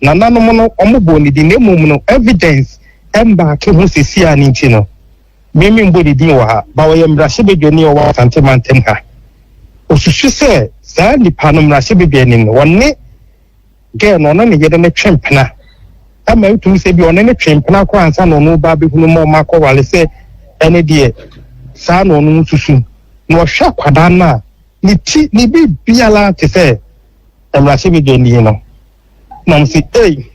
Nananom no wɔbɔɔ ne din na mmom no evidence mbaake ho sɛsi a ne nti no me menbɔ ne din wɔ ha but ɔyɛ mmarahyɛbadwani a ɔwɔ Asante mantam ha. Osusu sɛ saa nipa no mmarahyɛbadwani no ɔne girl no ɔne ne yere no twe mpena ɛma ɛtumi sɛ bi ɔne no twe mpena koraa ansa na ɔno ba abɛhunu ma ɔmo akɔwale sɛ ɛne deɛ saa na ɔno susu na ɔhwɛ akwadaa no a ne ti ne biribiara te sɛ mmarahyɛbadwani yi no na ɔmo si ei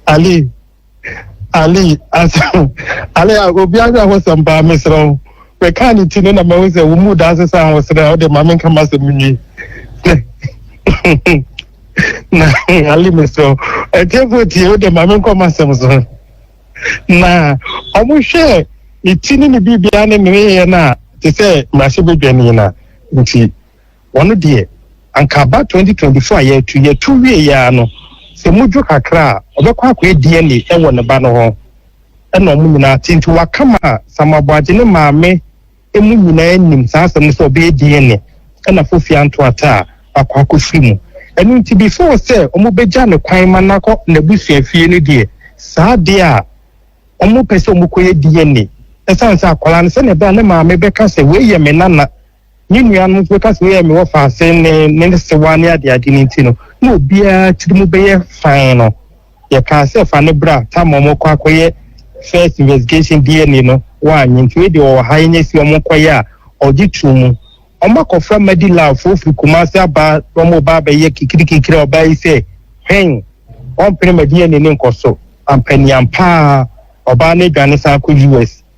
ali ali asɛm ali a obi ahwɛ ahosɛm paa mesrɛ wo bɛka ne ti no na mahu sɛ wo mu daa sesa ahosrɛ wode ma menka masɛm nwie na ali mesrɛ wo atiefo tie wode ma menkɔ masɛm so na ɔmo hwɛ ne ti ne ne biribiara ne ne yɛ no a te sɛ mmarahyɛbadwani no a nti Wɔn deɛ, anka aba twenty twenty four a yɛatu yi atu wieeɛ ara no, sɛ modwo kakra a, ɔbɛkɔ akɔyɛ DNA wɔ ne ba no hɔ na wɔn nyinaa ate. Nti waka ma Sam Aboagye ne maame mu nyinaa nim saa asɛm no sɛ ɔbɛyɛ DNA na Fofia Antoata a wakɔ akɔfiri mu. Ɛno nti before sɛ wɔbɛgya no kwan ma no akɔ n'abusuafie no deɛ, saa adeɛ a wɔpɛ sɛ wɔkɔyɛ DNA, ɛsiane sɛ akwadaa no sɛdeɛ ɛbɛyɛ a ne maame bɛka sɛ wei yɛ me nana, Me nuanom nso bɛka sɛ yɛ mewɔ faase ne ne sewa ne adeade no nti no, na obiara tiri mu bɛyɛ fann no. Yɛkaa sɛ fa no bra Tamar ɔmɔkɔ akɔyɛ first investigation DNA no, wannye nti wei deɛ ɔwɔ ha yɛnyɛ si ɔmo nkɔyɛ a, ɔgye too mu. Ɔmo akɔfra Madi Lal foɔ firi Kumasi aba na ɔmo reba abɛyɛ kikirikikiri a ɔbaa yi sɛ hwɛn, ɔmpene ma DNA no nkɔ so. Ampaniampaa, ɔbaa no adwane san kɔ US.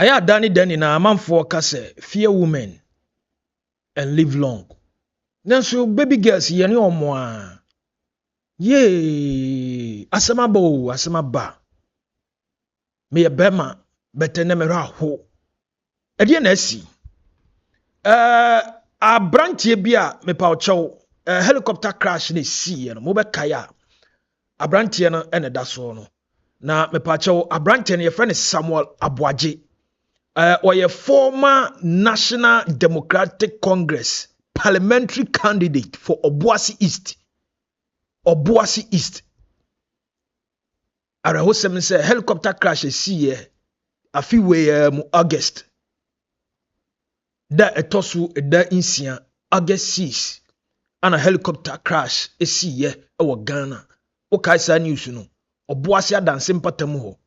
ɛyɛ ada ne da nyinaa amanfoɔ ka sɛ fear women and live long nanso baby girls yɛne ɔmo a Yee! Asɛm aba o, asɛm aba. Meyɛ bɛrima bɛtɛ na mehwɛ aho. Ɛdeɛ na asi. Ɛɛ aberanteɛ bi a mepa ɔkyɛw ɛɛ helicopter crash na esiiɛ no mobɛkae a aberanteɛ no ɛna ɛda soɔ no. na mepaakyɛw aberanteɛ no yɛfrɛ no samuel aboagye eh, ɔyɛ former national democratic congress parliamentary candidate for obuasi east obuasi east awerɛhosɛm sɛ helicopter crash ɛsiiɛ afe weiɛ mu august Da a ɛtɔ so da nsia, August 6, ana helicopter crash siiɛ wɔ Ghana. Wokae saa news no? Ɔboase adanse mpata mu hɔ.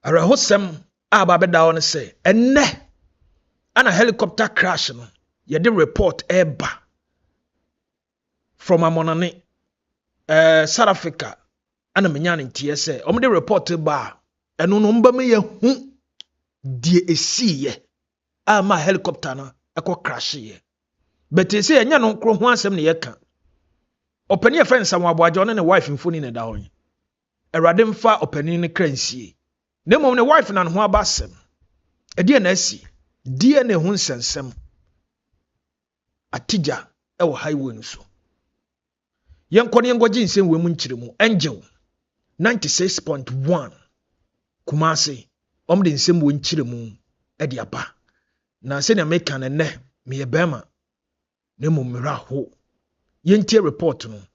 Awerɛhosɛm a aba abɛda hɔ no sɛ, ɛnnɛ ana helicopter crash no yɛde report ɛreba from amɔnane ɛɛ south africa ɛna menya ne nteɛ sɛ wɔn de report ba a ɛno no mbɛma yɛ hu deɛ esiiɛ a ma helicopter no ɛkɔ crash yɛ bɛtɛ sɛ yɛnyɛ no nkoro ho asɛm na yɛka ɔpɛni yɛ fɛ nsamu aboagya ɔne ne wife mfoni na ɛda hɔ yi awurade mfa ɔpɛni ne kra nsie na mmom ne wife na ne ho aba asɛm ɛdeɛ na asi deɛ na ɛho nsɛnsɛm atigya wɔ highway no so. Yɛnkɔ no yɛnkɔgye nsɛmwuo mu nkyerɛmu. Angel 96.1 Kumase, wɔn de nsɛmwuo nkyerɛmu de aba. Na sɛnea meka no nnɛ, meyɛ bɛrima na mmom mmerɛ aho. Yɛntie report no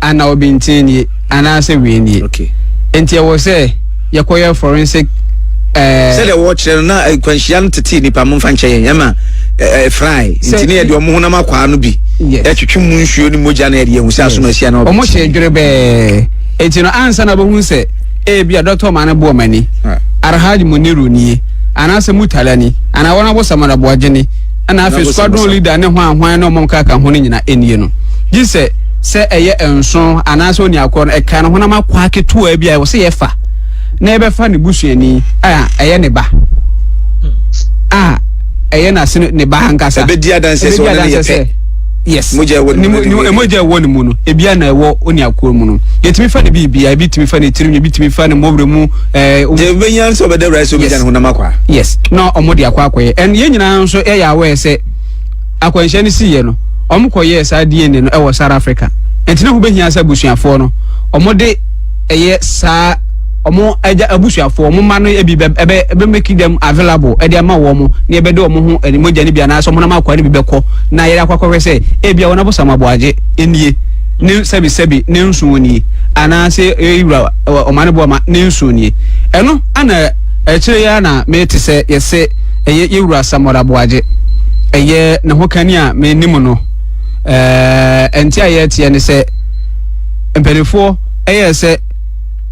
anaa obi ntee nie anaasɛ wei nie. Okay. Enti ɛwɔ sɛ yɛkɔyɛ forensic ɛɛ. Sɛdeɛ wɔkyerɛ no na nkwanhyia no tetee nipa mo nfa nkyɛ yɛn ɛma ɛfrae nti ne yɛde ɔmo honam akwaa no bi ɛtwetwe mu nsuo ne mogya na yɛde yɛn ho sɛ asom asia na ɔbɛti. Ɔmo hyɛ dwere bɛɛ enti no ansa na ɔbɛhu sɛ ebi a dɔkta ɔmo ano bɔ ɔmo ani arahaj muniru nie anaasɛ mutalani anaa wɔn abɔ samaraboagye ni. ɛna afei squadron leader ne hwan hwan ne ɔmo nka ka ho no nyina ɛnie no gye sɛ sɛ ɛyɛ nso anaasɛ oniakorɔ no ɛka no honam akɔ aketewa bi a ɛwɔ sɛ yɛfa na yɛbɛfa ne busuani a ɛyɛ ne ba a ɛyɛ n'asene ne ba ankasa ɛbɛdi adanseɛ sɛ ɔne ne yɛ pɛ yes mogya ɛwɔ ne mu no mogya ɛwɔ ne mu no ebia na ɛwɔ oniakorɔ mu no yɛtumi fa ne biribia ebi tumi fa ne tirim ebi tumi fa ne mmɔwerɛ mu Eh, um, deɛ wobɛnya sɛ ɔbɛda awurade sɛ wobɛgya ne honam akɔ a yes na ɔmo de akɔ akɔyɛ ɛn yɛn nyinaa nso yɛyɛ aware sɛ akwanhyia no siiɛ no ɔmo kɔyɛɛ saa dna no ɛwɔ south africa ɛnti na ho bɛhia sɛ abusuafoɔ no ɔmo de ɛyɛ saa ɔmo agya abusuafoɔ ɔmo mma no ebi bɛ ɛbɛ ɛbɛ make them available ɛde ama wɔn mo na ɛbɛde wɔn ho ɛne mogya no bi anaasɛ ɔmo nam akɔa no bi bɛkɔ na yɛde akɔ akɔhwɛ sɛ ebi a wɔn abosam aboagye nie ne sɛbi sɛbi ne nson nie anaa se eyi wura wɔ ɔmane boɔ ma ne nson nie ɛno ana akyire yi ara na me te sɛ yɛse ɛyɛ ye wura Samora Boagye ɛyɛ ne ho kani a me nim no ɛɛ ɛnte a yɛteɛ ne sɛ mpanifoɔ ɛyɛ sɛ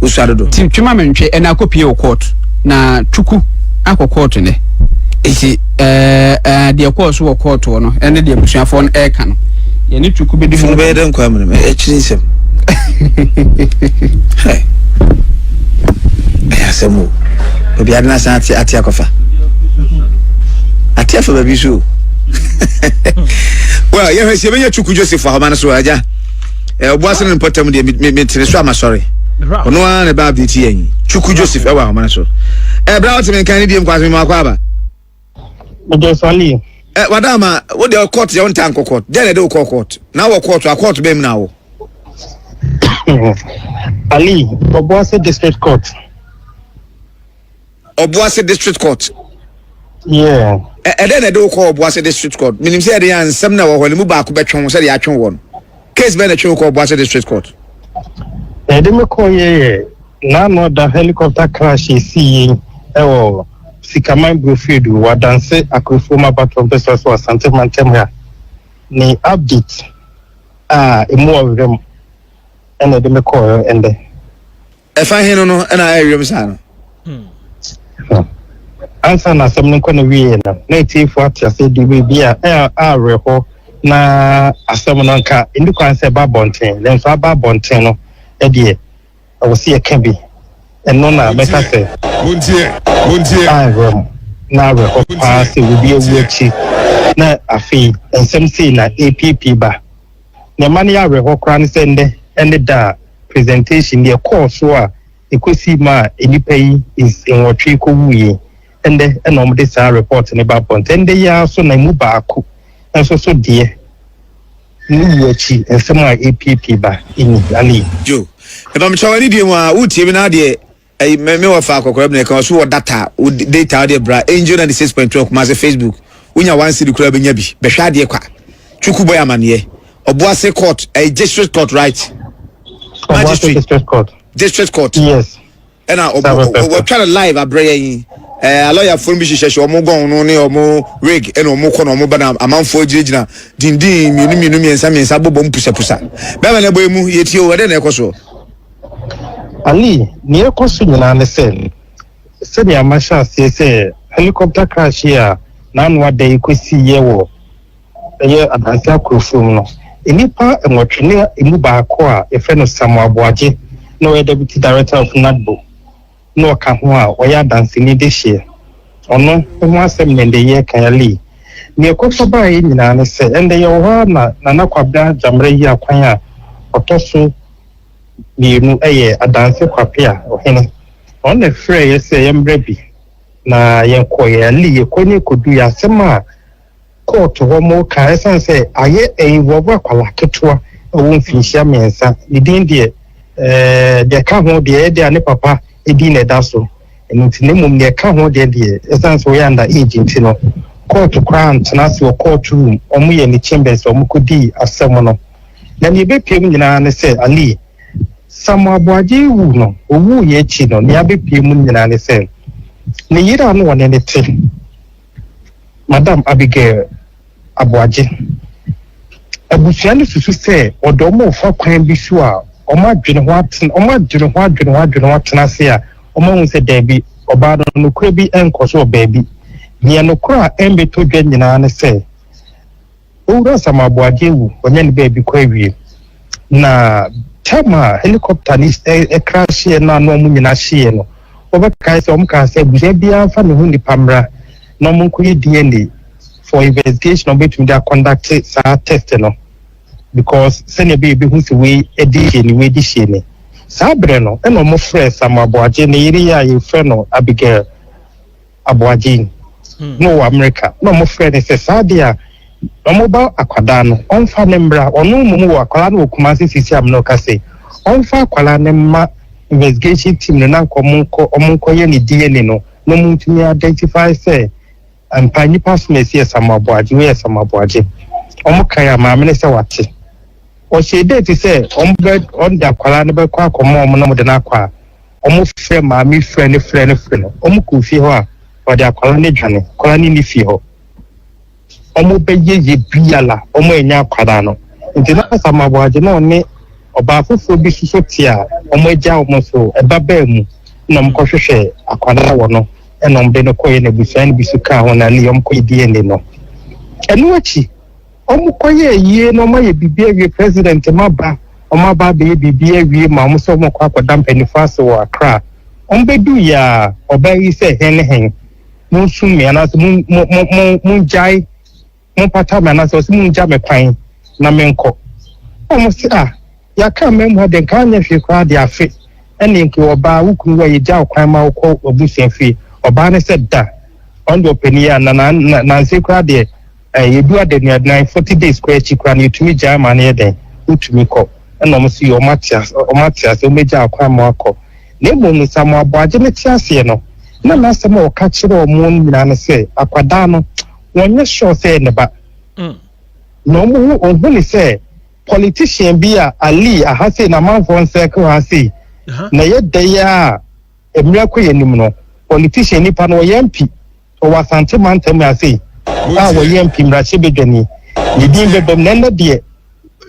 Osua dodo. Ti twe ma me ntwe ɛna akɔ pie wɔ court na twuku akɔ court nɛ esi ɛɛ deɛ kɔɔ so wɔ court wɔ no ɛne deɛ busuafo no ɛɛka no yɛne twuku bɛ di mu. Bɛyɛ dɛ nkwa mmerɛ mɛ ɛkyiri nsɛm. Ɛyɛ asɛm o. Obi adi na san ate ate akɔfa. Ate afa baabi so. Well, yɛhwɛ sɛ yɛbɛnya twuku Joseph ahoma no so agya. eh, ɔbo ase no mpɔtam deɛ metene so a masɔre ɔno ara na ɛbɛ update yɛn twuku joseph ɛwɔ ahoma no so ɛberɛ a woteme nkan ne biem kwase mema wakɔ aba eh, wada ama wode court yɛ wontaa nkɔ court dɛn na ɛde wokɔ court na wɔ court a court bɛm na wo ali ɔbo ase district court Ɔboase District Court. Yeah. Ɛdɛn na ɛde wo kɔ Ɔboase District Court? Menim sɛ ɛde yɛ nsɛm na ɛwɔ hɔ no mu baako bɛtwe wo sɛdeɛ atwe wɔ no. Case bɛn na ɛtwe wo kɔ Ɔboase District Court? Ɛde me kɔ yɛ yɛ n'ano ɔda helicopter crash esi yi ɛwɔ Sikaman Brofie do wɔ Adanse Akrofuom abatoɔ mpɛsɛ so Asante mantam ha ne update a emu ɔwerɛ mu ɛna ɛde me kɔɔ ɛndɛ. ɛfa he no no ɛna ayɛ wiem saa no ansa na asɛm no nkɔ no wie no na atiefo ate ase de biribi a awerɛhɔ na asɛm no nka ɛni kwan sɛ ɛba abɔnten nanso aba abɔnten no ɛdeɛ ɛwɔ sɛ yɛka bi ɛno na mɛka sɛ awerɛ mu na awerɛhɔ paa sɛ obi awu akyi na afei nsɛm sei na ɛpiepie ba Nea ɛma no yɛ awerɛhoɔ koraa ne sɛ nnɛ ne da a presentation yi ɛkɔɔ so a ɛkɔsii maa nnipa yi nwɔtwe kɔwuui yi, ɛnnɛ na wɔde saa report no ba abɔnten. Ɛnnɛ yi ara so na ɛmu baako nso so deɛ ne wuo akyi nsɛm a ɛrepiapia ba nni. Joe, mepamekyɛw anidie mu a woretie me na adeɛ? ɛyi mɛ mɛ wɔ fa akɔkɔrɔ bi na ɛka ɔso wɔ data o data ɔde bra angel na de six point two kumase facebook wonya one city kura bɛnya bi bɛhwɛ adeɛ kwa twuku bɔ yɛ amaneɛ ɔboase court ɛyɛ district court right magistrate district court district court yes ɛna wɔtwa no live abrɛ yɛ yi ɛɛ alɔyafoɔ bi hyehyɛ hyɛ wɔn gɔn no ne wɔn wig ɛna wɔn kɔ na wɔn ba na amanfoɔ gyinagyina dindin mmienu mmienu mmiɛnsa mmiɛnsa bɔbɔ mu pusapusa bɛrɛ na ɛbɔ emu yɛ tie o ɛdɛ na ɛkɔ soɔ. Ali, nea ɛrekɔ so nyinaa ne sɛ, sɛnea mahyɛ aseɛ sɛ helicopter crash yi a n'ano ada yi kɔsiiɛ wɔ ɛyɛ Adansi Akorɔfuom no, nnipa nwɔtwe ne ɛmu baako a yɛfrɛ no Samuel Aboagye na ɔyɛ Deputy Director of NADBO na ɔka ho a ɔyɛ adanseni de hyeɛ. Ɔno ho asɛm na ɛndɛ yɛreka. Ali, nea ɛkɔ so baeɛ nyinaa ne sɛ, ɛndɛ yɛwɔ hɔ ara na Nana Kwabena Gyammerɛ yi akwan a ɔtɔ so mmienu yɛ adanse kwape a ɔhene wɔn na ɛfrɛɛ yɛ sɛ yɛmmra bi na yɛn kɔeɛ ali yɛ kɔ ne kɔdu yɛ asɛm a kɔɔto hɔ mo ka ɛsan sɛ ayɛ ɛinvɔvo akwala ketewa ɛwɔ mfinhyia mmiɛnsa ne din deɛ ɛɛ deɛ ɛka ho deɛ ɛyɛ deɛ a ne papa edin na ɛda so, ɛno nti, na mmom nea ɛka ho deɛ deɛ ɛsiane sɛ ɔyɛ under age nti no, kɔɔto koraa antena ase wɔ kɔɔto room, wɔyɛɛ ne chambers a wɔkɔdii asɛm no. Na nea ɛbɛpue mu nyinaa ne sɛ, Ali, Samuel Aboagye wu no, ɔwuiɛ akyi no, nea abɛpue mu no nyinaa ne sɛ, ne yere a na ɔne no te, Madam Abigail Aboagye, Abusua no susu sɛ wɔde wɔn refa kwan bi so a wɔn adwene ho aten, wɔn adwene ho adwene ho adwene ho atena ase a wɔahu sɛ daabi, ɔbaa no nokorɛ bi nkɔ so wɔ baabi. Deɛ nokorɛ a ɛmmɛtɔ dwa nyinaa ne sɛ, Owura Asamoah Aboagye wu, ɔnyɛ ne baabi kɔ awie. Na tam a helicopter no crashieɛ no a na wɔn nyinaa hyeeɛ no, wɔbɛkae sɛ wɔn kaa sɛ abusua biara mfa ne ho nipa mmra na wɔn nkɔyɛ DNA for investigation a wɔbɛtumi de akɔndakte saa test no because sɛnea ɛbɛyɛ ebehu sɛ wei ɛde hyɛ ni wei de hyɛ ni. Saa berɛ no ɛna wɔn frɛ Samoah Aboagye ne yere yɛ a yɛfrɛ no Abigail. aboagyen na ɔwɔ Amerika na ɔmo frɛ ne sɛ saa deɛ a ɔmo ba akwadaa no ɔmfa ne mbra ɔno mmom wɔ akwadaa no wɔ Kumasi sisi amena ɔka sɛ ɔmfa akwadaa no mma investigation team no na nka ɔmo nkɔ ɔmo nkɔ yɛ ne DNA no na ɔmo ntumi identify sɛ mpa nipa so na esi yɛ Samuel Aboagye wei yɛ Samuel Aboagye ɔmo kan a maame no sɛ wate ɔhyɛ date sɛ ɔmo bɛ ɔmo de akwadaa no bɛkɔ akɔma ɔmo na ɔmo de no akɔ a Ɔmo frɛ maame frɛ no frɛ no frɛ no ɔmo kɔ fie hɔ a ɔde akwadaa no dwane akwadaa no nni fie hɔ ɔmo bɛ yɛ yɛ biala ɔmo ɛnya akwadaa no nti na sama aboagye na ɔne ɔbaa foforɔ bi soso te a ɔmo agya ɔmo so ɛba baa mu na ɔmo kɔ hwehwɛ akwadaa wɔ no ɛna ɔmo de no kɔ yɛ na abusua no bi so kaa ho na ne ɔmo kɔ yɛ DNA no ɛno akyi. ɔmo kɔ yɛ ayie na ɔmo ayɛ biribi awie president ma ba ɔmo aba abɛyɛ biribi awie ma ɔmo sɛ ɔmo kɔ akɔda mpanyinfoɔ ase wɔ akra ɔmo bɛdu yɛ a ɔbaa yi sɛ hɛn ne hɛn mo nsum me anaasɛ mo mo mo mo mo ngyae mo mpata me anaasɛ ɔsɛ mo ngya me kwan na me nkɔ ɔmo sɛ a yɛaka mmaa mu ha deɛ nka anyɛ hwee koraa de afe ɛne nka ɔbaa wo kunu wa yɛgya ɔkwan ma wokɔ abusua fie ɔbaa ne sɛ da ɔno deɛ ɔpɛ ne yɛ a na na na nansi koraa deɛ Ɛɛ, yɛdu adaduaduan, forty days koraa akyi koraa no, yɛtumi gyae ma no yɛ dɛn? Wotumi kɔ. Ɛna wɔn nso yɛ, wɔn ate ase, wɔn ate ase, wɔn agyaa kwan ma wɔakɔ. Na mmom no, Samuel Aboagye no te aseɛ no, na n'asɛm a ɔka kyerɛ wɔn no nyinaa ne sɛ, akwadaa no, wɔnyɛ sure sɛ ɛyɛ ne ba. Mm. Na wɔn ho, wɔn ho ne sɛ, politician bi a Ali aha sei, n'amanfoɔ nsɛke ha sei, na ɛyɛ dɛ yi a, mmerɛ kɔ yɛn anim no, politician nipa no, ɔyɛ mpi. wɔ Asante mantam mu afei a wɔyɛ MP mmarahyɛbadwani. Ne din bɛbam na ɛnnɛ deɛ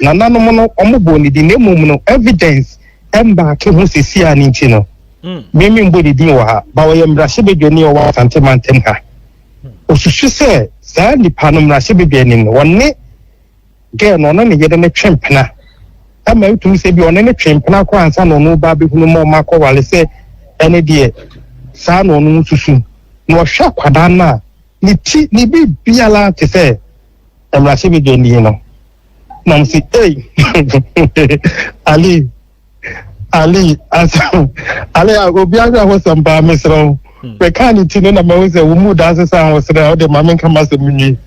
nananom no wɔbɔɔ ne din na mmom no evidence mbaake ho sisi a ne nti no hmm. me memmɔ ne din wɔ ha ba wɔyɛ mmarahyɛbadwani wɔ Asante mantam ha. Osusu sɛ saa nipa no mmarahyɛbadwani no wɔne Girl no ɔne ne yere no twe mpena ma ɛtumi sɛ ebia ɔne no twe mpena koraa ansa na ɔno reba abɛhunu ma ɔma akɔware sɛ ɛne deɛ saa na ɔno susu. Na ɔhwɛ akwadaa no a, ne ti, ne biribiara te sɛ mmarahyɛbadwani no. Na ɔmo se, Ei! Ali! ali asɛm ali a obi ahwɛ ahosɛm paa mesrɛ wo hmm. mɛka ne ti no na mahu sɛ wo mu da ase sɛ ahosrɛ a wode ma menka ma asɛm nwie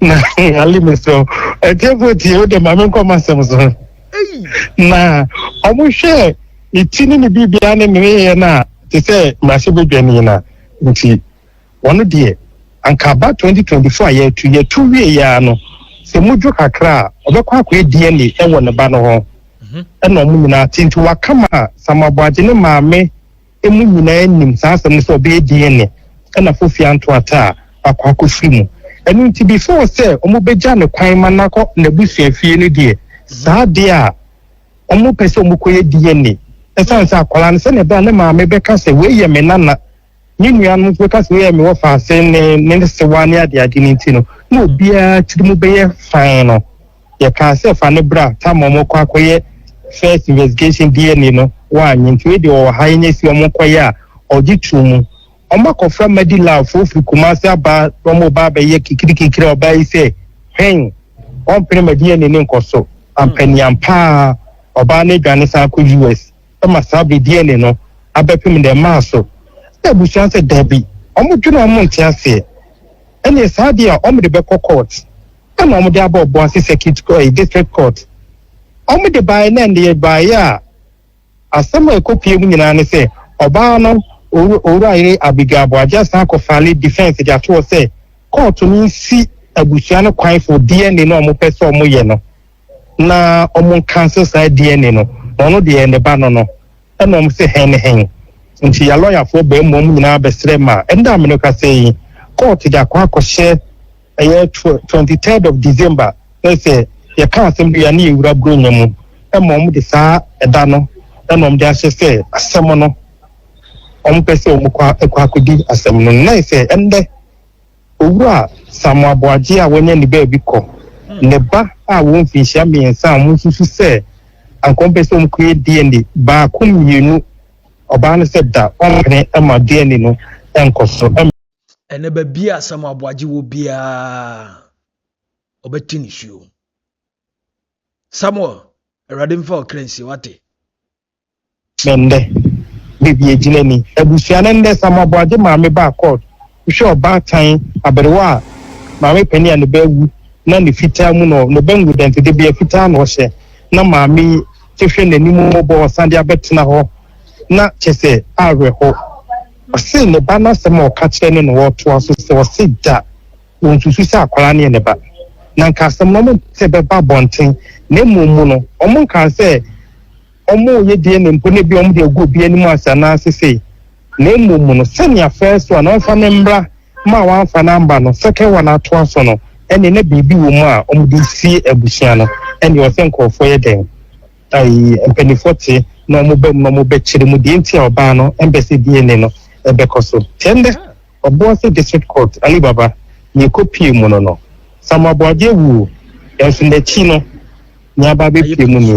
na ali mesrɛ wo ɛtiɛfoɔ tie wode ma menkɔ ma asɛm so na ɔmohwɛ ne ti ne ne biribiaa ne ne yɛyɛ no a te sɛ mmarahyɛ bɛdwa ni no nti wɔn deɛ anka aba twenty twenty four a yɛatu yɛatu wie yɛ ara no sɛ mudwo kakra a ɔbɛkɔ akɔyɛ DNA wɔ ne ba no hɔ mhm. ɛna wɔn nyinaa te nti waka ma samaboagye ne maame emu nyinaa nim saa asɛm no sɛ ɔbɛyɛ DNA ɛna fofi anto ata a wakɔ akɔfiri mu ɛno nti before sɛ wɔn bɛgya ne kwan ma nakɔ n'abusua fie no deɛ mhm. saa deɛ a wɔn pɛ sɛ wɔn kɔyɛ DNA ɛsan sɛ akwadaa no sɛnea ɛbɛn ne maame bɛka sɛ wei yɛ me nana. Ne nuanom nso bɛka sɛ yɛ mewɔ faase ne ne sewa ne adeade no nti no, na obiara tiri mu bɛyɛ fann no. Yɛkaa sɛ fa no bra Tamar ɔmɔkɔ akɔyɛ first investigation DNA no, wannye nti wei deɛ ɔwɔ ha yɛnyɛ si ɔmo nkɔyɛ a, ɔgye too mu. Ɔmo akɔfra Madilal foɔ firi Kumasi aba na ɔmo reba abɛyɛ kikiri kikiri a ɔbaa yi sɛ hwɛn ɔmpene ma DNA no nkɔ so. Ampanian paa, ɔbaa no adwane san kɔ US. ma saa bɛ DNA no abɛpem nnɛ mmaa so. Ɛna abusua sɛ dabi, wɔn dwene a wɔn nte aseɛ, ɛneɛ saa deɛ a wɔn de bɛkɔ court, ɛna wɔn de aba Obuasi circuit court, ɛyi district court, wɔn de baeɛ na ɛndeɛ baeɛ a asɛm a ɛkɔ pue mu nyinaa ne sɛ ɔbaa no owura yere Abigail Boagye san kɔ fale defense de ato hɔ sɛ court no nsi abusua no kwan for DNA no a wɔn pɛ sɛ wɔn yɛ no. na ɔmo nka sɛ saa DNA no na ɔno deɛ ne ba no no ɛna ɔmo sɛ hɛn ne hɛn nti yɛ lɔyafoɔ baa mu ɔmo nyinaa bɛsrɛ ma ɛnda a mene kasa yi kɔɔto de akɔ akɔhyɛ ɛyɛ twenty third of December na sɛ yɛka asɛm bi a ne yɛwura buronya mu ɛma ɔmo de saa ɛda no ɛna ɔmo de ahyɛ sɛ asɛm no ɔmo pɛ sɛ ɔmo kɔ akɔdi asɛm no na sɛ ɛndɛ Owura Samoa Boagyee a wanya ne baabi kɔ, ne ba a wɔwɔ mfinhyia mmiɛnsa a wɔsusu sɛ anka wɔpɛ sɛ wɔkɔyɛ DNA baako mmienu, ɔbaa no sɛ da ɔmpene ma DNA no nkɔ so. Ɛnnɛ baabi a Samoa Boagye wɔ biara, ɔbɛte nisuo. Samoa, Awurade mfa ɔkra nsie wate. me ndɛ beebi egyina ni. Ebusua no ndɛ Samuel Aboagye maame baa court hwɛ ɔbaatan aberewa a maame panin a ne ba ewu na ne fitaa mu no ne ba ngu dɛnti debea fitaa na ɔhyɛ na maame yi te hwɛ n'anim mɔbɔ ɔsan de abɛtena hɔ na kyɛsɛ awerɛho. Ɔse ne ba no asɛm a ɔka kyerɛ ne na ɔtoa so sɛ ɔse da. Wɔnsusu sɛ akwadaa no yɛ ne ba, na anka asɛm no wɔnte bɛba abɔnten, na mmom mu no, wɔnkaa sɛ wɔreyɛ DNA mpo na ebia wɔde agu obi anim ase anaa sesei, na mmom mu no, sɛnea first one a wɔmfa no mmra ma a wɔamfa no amba no, second one atoa so no, ɛnneɛ na biribi wɔ mu a wɔde resie abusua no. Ɛnneɛ ɛwɔ sɛ nkurɔfoɔ yɛ dɛn? Ayi, mpanimfoɔ te na wɔba mu na wɔbɛkyerɛ mu deɛ nti a ɔbaa no mpɛ sɛ DNA no bɛkɔ so. Te ɛnnɛ, Obuasi District Court Ali Baba nea ekopiee mu no no, Samuel Boagye wu nanso n'akyi no nea aba abepue mu ni.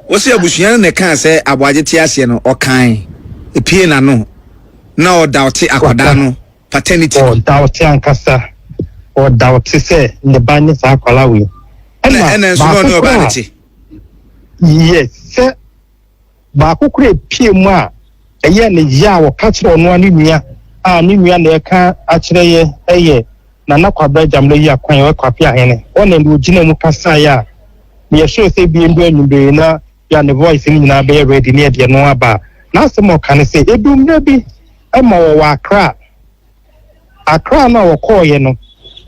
Wɔse abusua no na ɛkaa sɛ Aboagye te aseɛ no ɔkae, epiee n'ano, na ɔdaote akwadaa no paternity no. Ɔdaote ankasa, ɔdaote sɛ ne ba ne saa akwadaa wei. Ɛna ɛna nso na ɔne ɔbaa no te. Yes, sɛ baako koraa a epiee mu a ɛyɛɛ no yea a ɔka kyerɛɛ ɔno ara ne nua a ne nua na ɛka akyerɛ yɛ ɛyɛ Nana Kwabra Gyamena yi akwan a ɔyɛ Kwape Ahene hɔ na ɛna ɔgyina mu kasaeɛ a meyɛ sure sɛ ebia ndu anwummere yi na yɛ ne voice no nyinaa bɛyɛ ready ne ɛdeɛ no aba a n'asɛm a ɔka ne sɛ edu mmerɛ bi ma wɔwɔ Accra Accra no a wɔkɔeɛ no,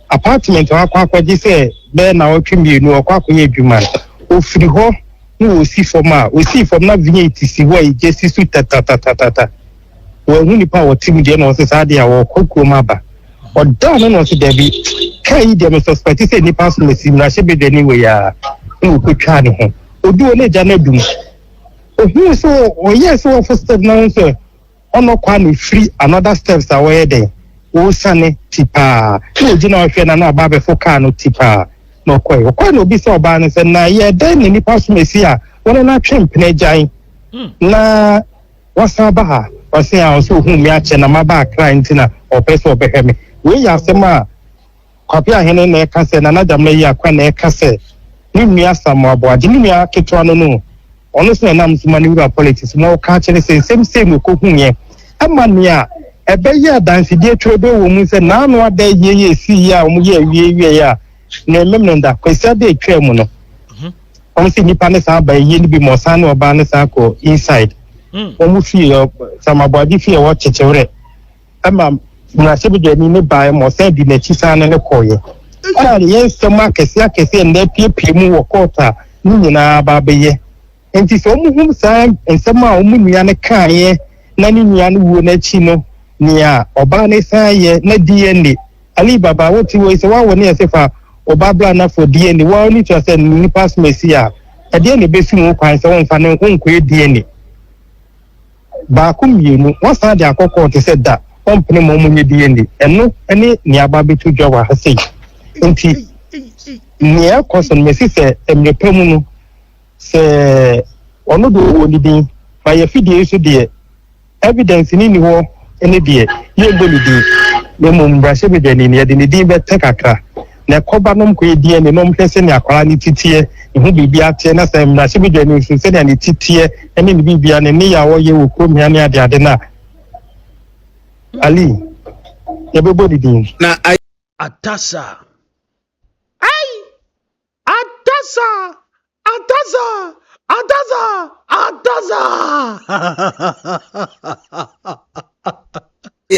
apartment a wakɔ akɔgye sɛ bɛyɛ nnawɔtwe mmienu ɔkɔ akɔyɛ adwuma. Ɔfiri hɔ na ɔsi fam a ɔsii fam na V8 si hɔ a egya si so tatatatata. Wanhu nipa a ɔte mu deɛ na ɔse saa deɛ a ɔkɔ kurom aba. Ɔdaa no na ɔse dabi kaa yi deɛ me suspect sɛ nipa so na si mmarahyɛ badwani wei a na ɔkɔtwaa ne ho. Ɔdu hɔ na egya no adum. Ɔhuu sɛ ɔyɛɛ sɛ ɔfo step na ɔhu sɛ ɔnɔ Kwame firi another steps a wɔyɛ dɛn ɔresane ti paa na ɔgyina hɔ hwɛ na na ɔba abɛfo car no ti paa na ɔkɔe ɔkɔe na ɔbisa ɔbaa no sɛ na yɛ dɛn na nipa som asi a wɔne no atwe mpena agyan na wasan aba ha ɔse a ɔsɛ ohun me akyɛ na maba akra nti na ɔpɛ sɛ ɔbɛhwɛ me wei yɛ asɛm a Kwapea Ahene na ɛka sɛ Nana Damina yi akwa na ɛka sɛ ne nua Asamoah Boagye ne nua ketewa no no ɔno nso na ɛnam so ma ne wura politics ma ɔka kyerɛ sɛ nsɛm sei na ɔkɔhuiɛ ɛma nea ɛbɛyɛ adansedie twerɛdoo wɔ mu sɛ naano ada yie yɛ ɛsii yɛ a wɔn yɛ awie wieɛ a na ɛmemene da Kwasi Addo atwaa mu no wɔn sɛ nnipa ne saa ba yie no bi ma ɔsan ne ɔbaa ne saa kɔ inside wɔn fie Asamoah Boagye fie a wɔkyekyewrɛ ɛma mmarahyɛbadwani no baeɛ ma ɔsan di n'akyi san ne no kɔeɛ. Ɛna ne yɛ nsɛm akɛse akɛse a nnɛ apiepie mu wɔ kɔɔto a ne nyinaa aba abɛyɛ. Nti sɛ wɔhunu saa nsɛm a wɔn nua no kaeɛ na ne nua no wuo no akyi no, nea ɔbaa no san yɛ na DNA Ali Baba wote wei sɛ woawo ne ɛse fa wo ba bra na for DNA woa woni tua sɛ ne nipa som asi a ɛdeɛ na ɛbɛsi mu kwan sɛ womfa ne wonkɔyɛ DNA. baako mmienu, wɔasan de akɔ kɔɔ te sɛ da, wɔmpene ma wɔnyɛ DNA. Ɛno ne nea aba abɛto dwa wɔ ha sei. Nti, nea ɛkɔ so no, mesi sɛ mmerɛ pa mu no, sɛ ɔno deɛ ɔwɔ ne din, ma yɛ fidie yi so deɛ, evidence ne ni hɔ ne deɛ, yɛmbɔ ne din, na mmom mmarahyɛbadwani no, yɛde ne din bɛtɛ kakra. na kɔ ba nom kɔ ɛdi ani nom hwɛ sɛnea akwadaa no ti teɛ, ne ho biribiara teɛ na sɛ mmarahyɛbedwa no nso sɛnea ne ti teɛ ne ne biribiara ne nneyɛ a ɔyɛ wɔ kurom ha ne adeade no a Ali yɛbɛbɔ ne din. Na ayɛ. Atasa. Ai! Atasa! Adasa! Adasa! Adasa!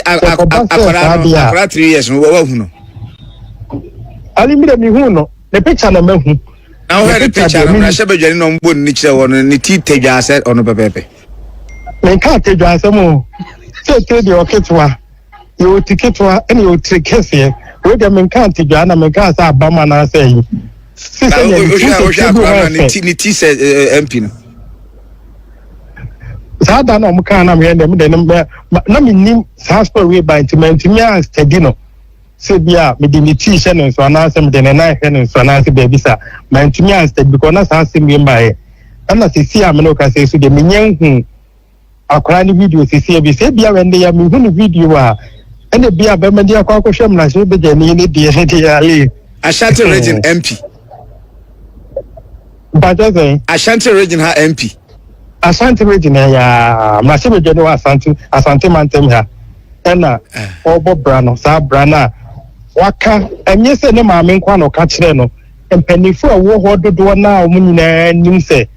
Akwadaa no, akwadaa three years no, wɔwɔ hu no. Ali mi de mi hu no, ne picture na ma hu. Na wɔhwɛ ne picture no, na hyɛ badwani na wɔn bɔ ne kyerɛ wɔn, ne ti tɛ dwa asɛ ɔno pɛpɛɛpɛ. Ne nka tɛ dwa asɛ mo, tɛ tɛ deɛ ɔketewa. yɛwɔ ti ketewa ɛna yɛwɔ tiri kɛseɛ wei deɛ menka ntedwaa na menka sɛ abam anaasɛ ayi si sɛ yɛde ti sɛ ti bi hɔ ɛfɛ ne ti sɛ mp no saa da na ɔmo kaa na meyɛ dɛm dɛ na menim saa story wei ba nti mantumi astadi no sɛ bi a mede ne ti hyɛ ne nso anaasɛ mede ne nan hyɛ ne nso anaasɛ baabi sa mantumi astadi bikɔ na saa asɛm wei mbaeɛ ɛna sɛsi a mene wo ka sɛ so deɛ menyɛ nhu akwadaa no video sisi ebi sɛ ebi a wɛn de ya mehu ne video a ɛna ebi a bɛma de akɔ akɔhwɛ mmarahyɛ bɛgya ni ne deɛ ne deɛ ale. ashanti region mp. mpatsɛ sɛn. ashanti region ha mp. ashanti region ha yaa mmarahyɛ bɛgya ni wɔ asante asante mantam ha ɛna eh. ɔbɔ bra no saa bra no a waka ɛnyɛ sɛ ne maame nkwa na ɔka kyerɛ no mpanyinfoɔ a ɛwɔ hɔ dodoɔ no a wɔn nyinaa nim sɛ.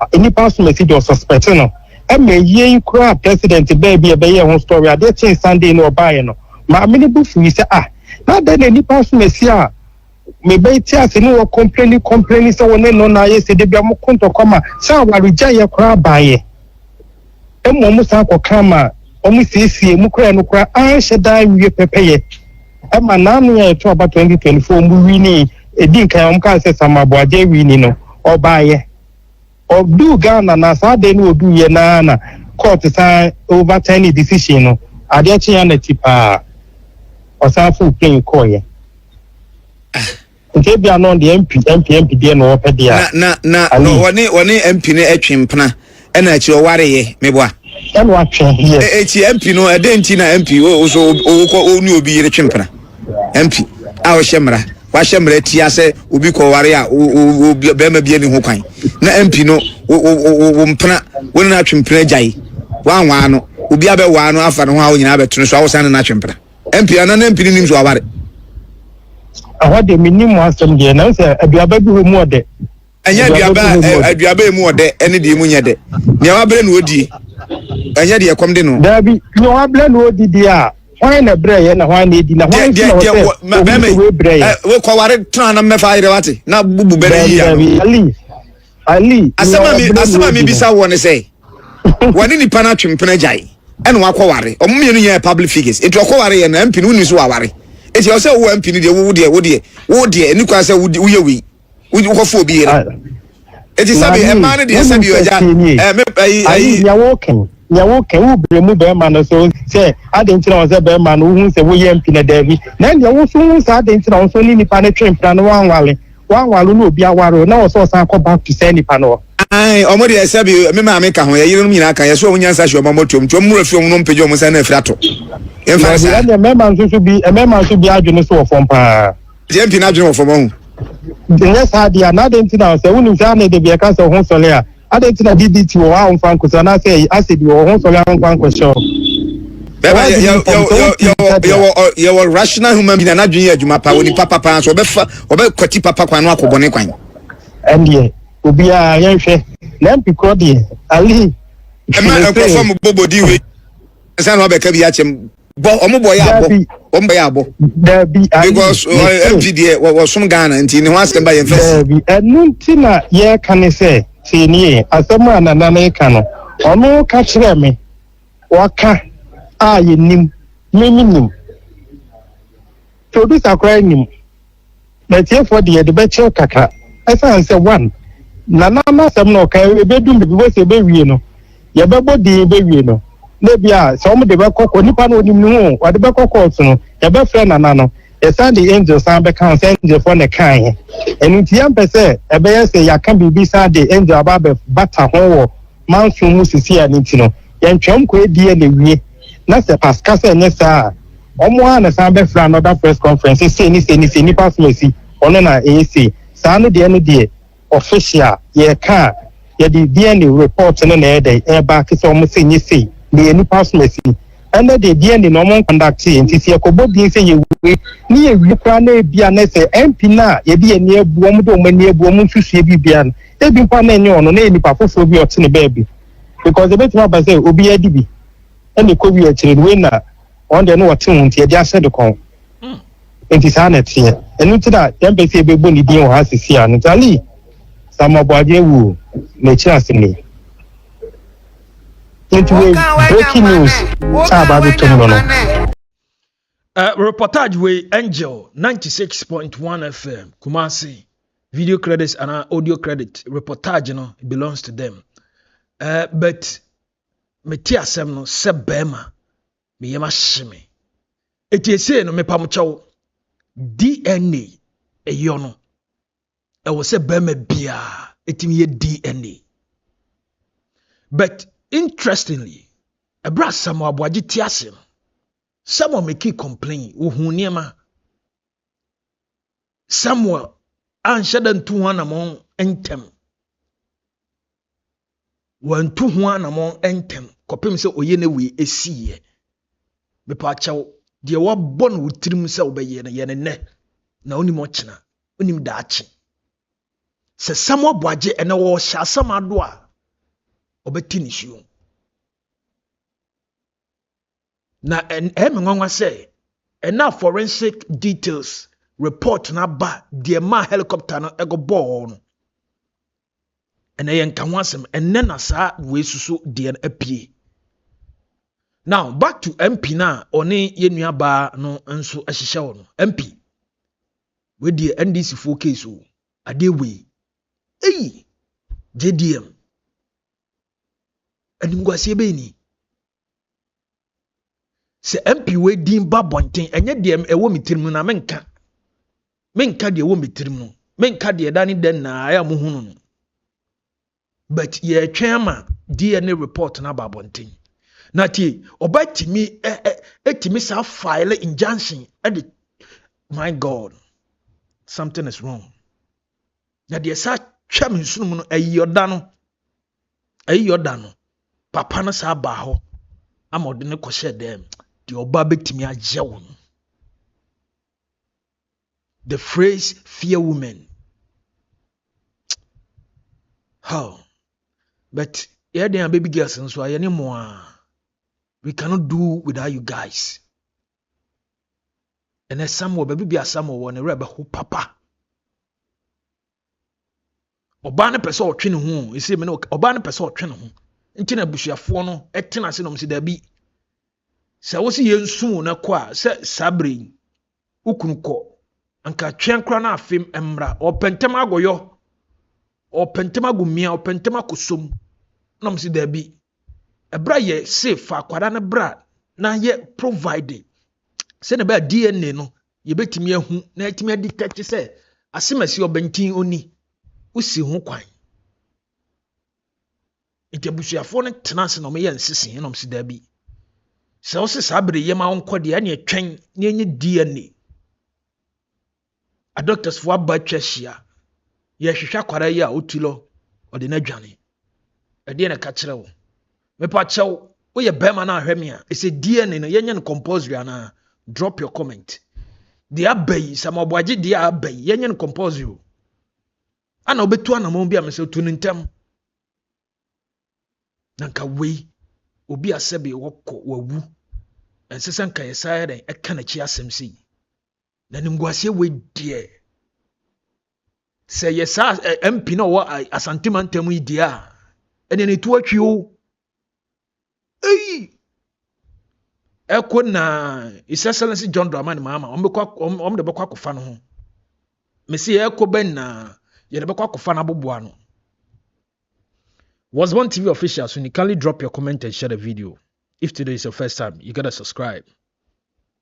a nnipa asomasi dɔɔ suspect no ma eyiɛ yi koraa president baa bi a ɛbɛyɛɛ ho story adeɛ kyee Sunday no ɔbaeɛ no maame no bo fuui sɛ ah na adɛn na nnipa asomasi a mebɛte ase ne wɔ kɔmpleni kɔmpleni sɛ wɔne no na ayɛ sɛ da bia moko ntɔkwa ma sɛ awaregyaeɛ koraa baeɛ. Mmom mosan kɔkaa ma wɔsiesiee mu koraa a ɛno koraa anhyɛ da anwie pɛpɛyɛ. Ɛma n'ano a ɛto aba 2024 mu wini ɛdi nkan a wɔkaa sɛ Sam Aboagye wini no, ɔbaeɛ. Ɔduu Ghana na saa adeɛ no ɔduuiɛ no ara na court san overturn ne decision no. Adeɛ kyeeɛ a na ti paa. Ɔsan foro plane kɔeɛ. Ah! Nti ebia no deɛ MP MP MP deɛ na ɔpɛ deɛ a. Na na na na ɔne ɔne MP no ɛtwe mpena ɛna akyire ɔware yɛ meboa. Ɛna watwe yɛ. E ekyi MP no ɛdɛ nti na MP o o so ɔwokɔ ɔne obi yere twe mpena MP a ɔhyɛ mmara wahyɛ mmara tia sɛ obi kɔ ware a o o o bɛrima bi ani ho kwan na MP no o o o o mpena wɔn na atwe mpena gyae wɔn anwaa no obi abɛwaa no afa ne ho a wɔn nyinaa bɛtene so awosan ne na atwe mpena. MP ana na MP nim so aware. Ɛhɔ de me nim mo asɛm deɛ na sɛ aduaba bi hɔ mu ɔdɛ. Ɛnyɛ aduaba aduaba emu ɔdɛ ɛne deɛ emu nyɛ dɛ. Nea wabrɛ na odie. Ɛnyɛ deɛ ɛkɔm de no. Daabi nea wabrɛ na odi deɛ a hwan na ɛbrɛ yɛ na hwan na edi na hwan ti na ɔsɛ obi sɛ webrɛ yɛ. Wokɔ ware tena na mmɛfa ayerɛ wate na bubu bɛrɛ yi ya. Ali ali. Asɛm a mi asɛm a mi bisa wɔ ne sɛ. wɔne nipa no atwe mpena agyae ɛna wakɔ ware ɔmo mmienu nyɛ public figures nti ɔkɔ ware yɛ no ampi no wonni so waware nti ɛwɔ sɛ wowɔ ampi no deɛ wowo deɛ wo deɛ wo deɛ ɛni kwan sɛ woyɛ wei wokɔfo obi yere nti sɛbi ɛmaa no deɛ sɛbi ɔgya ɛmɛ ayi ayi. nea wɔkɛn nea wɔkɛn wo bere mu bɛrima no so sɛ adi ntina wɔn sɛ bɛrima no wohu sɛ woyɛ ampi na daabi na nea woso hu sɛ adi ntina wɔn so ne nipa no twe mpena no wɔn anwale. Wanware o na obi aware o na ɔsɛ ɔsan kɔ back to saa nipa no hɔ. Aane ɔmo deɛ sɛbi me maame ka ho yɛ yerenom nyinaa ka yɛ so ɔmo nyansa hwe ɔmo ɔmo tuom nti ɔmo mmra fie ɔmo nom mpagya ɔmo nsa na afiri ato yɛn mfa no saa. Ɛnneɛ mmarima nso so bi mmarima nso bi adwene so wɔ fam paa. JMP n'adwene wɔ fam ɔho. Nyɛ saa deɛ a na adɛn nti na sɛ wonim sɛ ana ɛde bi ɛka sɛ ɔho sɔre a. Adɛn nti na DDT wɔ hɔ a womfa nkɔsi anaasɛ acid wɔ hɔ ho sɔre a womfa nkɔhyɛ hɔ? Bɛma yɛ yɛ yɛ yɛ yɛ wɔ rational human being anadwene yɛ adwuma pa wɔ nipa papa nso ɔbɛfa ɔbɛkwati papa kwan no akɔ bɔne kwan. Ɛndeɛ obiara yɛnhwɛ na mpi korɔ deɛ ali. Ɛma nkurɔfoɔ mo bobodin wei nsa na wabɛka bi akyɛm. bɔ wɔn bɔ yɛ abɔ wɔn bɔ yɛ abɔ. dabi ayi because mp deɛ wɔsom ghana nti ne ho asɛm ba yɛn fɛ si. dabi ɛnu ti na yɛka ne sɛ tie nie asɛm a nana no ka no ɔno ka kyerɛ me wɔka a yɛnim me me nim producer koraa nim. M'atiefoɔ deɛ yɛde bɛkyɛw kakra ɛsiane sɛ one, Nana no asɛm no ɔka ɛbɛdum baabi wobɛhu sɛ ɛbɛwie no yɛbɛbɔ din bɛwie no na ebi a sɛ wɔn de bɛkɔ kɔ nipa no onim ne ho o wɔde bɛkɔ kɔɔto no yɛbɛfrɛ Nana no yɛsan de angel san bɛka ho sɛ angelfoɔ na ɛkae he ɛno nti yɛmpɛ sɛ ɛbɛyɛ sɛ yɛaka biribi san de angel aba abɛbata ho wɔ manso mu sisi a ne nti no yɛntwɛn ɔmo kɔ die na wie na sɛ past ka sɛ ɛnyɛ saa a ɔmo a na san bɛfrɛ another press conference sɛ sei ne sei ne sei nipa asom asi ɔno na ɛyɛ sei saa no deɛ ɛno deɛ official yɛka a yɛde DNA report no na ɛdɛ ɛba ke sɛ ɔmo sɛ nyɛ sei na yɛ nipa asom asi ɛnɛ deɛ DNA na ɔmo nkɔndakte yɛ nti sɛ yɛkɔbɔ din sɛ yɛ wei ne yɛ wie koraa na ebia na sɛ MP no a yɛde yɛ ani abu ɔmo de ɔmo ani abu ɔmo nsusue biribiara no Ebi mpo a na ɛnyɛ ɔno, na ɛyɛ nipa foforɔ bi a ɔte ne baabi. Because ɛbɛtumi aba sɛ obiara di bi, ɛna ɛkɔwie akyire no, wei na wɔn deɛ na wɔte ho nti yɛde ahyɛ de kɔn. Nti saa na ɛteɛ. Ɛno nti na yɛmpɛ sɛ yɛbɛbɔ ne din wɔ ha sisi a. Nti Ali Samoaboagye awu o, n'akyiri asɛm ni. Nti wei breaking news a ɛba abɛtɔ mu no no. Uh, reportage wei Angel 96.1 FM Kumasi video credits and audio credit reportage you know, belongs to them. Uh, but mete asɛm no sɛ bɛrima meyɛ mahye me ɛti ɛsei no mepa mo kyɛw dna ɛyɔ no ɛwɔ sɛ bɛrima biaa ɛtumi yɛ dna but interestingly ɛberɛ asɛm aboagye te ase no Samuel mekii complain ohun nneɛma Samuel anhyɛ da ntu ho anamɔn ntɛm wantu ho anamɔn ntɛm kɔpem sɛ ɔyɛ ne wei ɛsiiɛ mepɛ akyɛw deɛ wabɔ no wo tirim sɛ wobɛyɛ no yɛ ne nnɛ na wonim ɔkyena wonim daakye sɛ Samuel Boagye ɛnɛ wɔhyɛ asɛm ado a ɔbɛte ne suo Na ɛyɛ me nwanwa sɛ ɛna forensic details report no aba deɛ maa helicopter no ɛkɔbɔɔ no ɛnɛ yɛn nka ho asɛm ɛnɛ na saa wei soso deɛ no apue now back to mp no a ɔne yɛn nuabaa no nso ahyehyɛ wɔ no mp wei deɛ ndc foɔ case o adeɛ wei eyi jdm animguaseɛ bɛyi ni sɛ mp wei din ba bɔnten ɛnyɛ deɛ ɛwɔ me tirim no na menka menka deɛ ɛwɔ me tirim no menka deɛ ɛda ne dɛ naa ɛyɛ a mohunu no but yɛretwɛn ama dna report no aba abɔnten na tie ɔbɛtumi ɛtumi saa file injunction ɛde my god something is wrong na deɛ saa twɛ me nsunom no ɛyɛ ɔda no Eyi yɛ ɔda no. Papa no saa baa hɔ ama ɔde no kɔhyɛɛ dɛm. Deɛ ɔba bɛtumi agyɛ wo no. The phrase fear women. How? But yeah, they are baby girls and so I anymore. We cannot do without you guys. And then some will baby be a some will want to papa. Ɔbaa no pɛ sɛ ɔtwe ne ho esi me ne ɔbaa no pɛ sɛ ɔtwe ne ho nti na abusuafoɔ no ɛtena ase na ɔmo si dabi sɛ wosi yɛn nsumu no kɔ a sɛ saa bere yi wokunu kɔ nka twɛn kora na afem mmra ɔpɛntɛm agɔyɔ ɔpɛntɛm agumia ɔpɛntɛm akosom na ɔmo si dabi ɛbra yɛ se fa akwara no bra na yɛ provide sɛ na bɛyɛ dna no yɛbɛtumi ahu na yɛatumi adi tɛkye sɛ asemasi ɔbɛnten oni wosi ho kwan nti abusuafoɔ no tena ase na wɔyɛ nsesee na wɔsi daabi sɛ wose saa bere yɛ ma wonkɔ deɛ ɛne ɛtwɛn na ɛnyɛ dna adɔktasfoɔ aba atwa ahyia yɛhwehwɛ akwara yi a ɔti lɔ ɔde no adwane ɛdeɛ na ɛka kyerɛ wo Mepa kyɛw, woyɛ bɛrima na ahwɛ me a, ɛsɛ DNA no yɛnyɛ no compulsory anaa? Drop your comment. Deɛ aba yi, sɛ mɔboagye deɛ aba yi, yɛnyɛ no compulsory o. Ana wobɛtu anamɔn bi a mesɛ tu no ntɛm. Na nka wei, obi a sɛbe wɔkɔ wawu, ɛnsɛ sɛ nka yɛsan yɛ dɛn ɛka n'akyi asɛm sei. Na nimguaseɛ wei deɛ sɛ yɛ saa MP na ɔwɔ Asante mantam yi deɛ a ɛnna ne to atwi o eyi ɛkɔ na His Excellency John Dramani Mahama wɔn bɛkɔ wɔn wɔn de bɛkɔ akɔfa no ho mesi ɛkɔ bɛ na yɛde bɛkɔ akɔfa no aboboa no. Was One TV official, so you kindly drop your comment and share the video. If today is your first time, you gotta subscribe.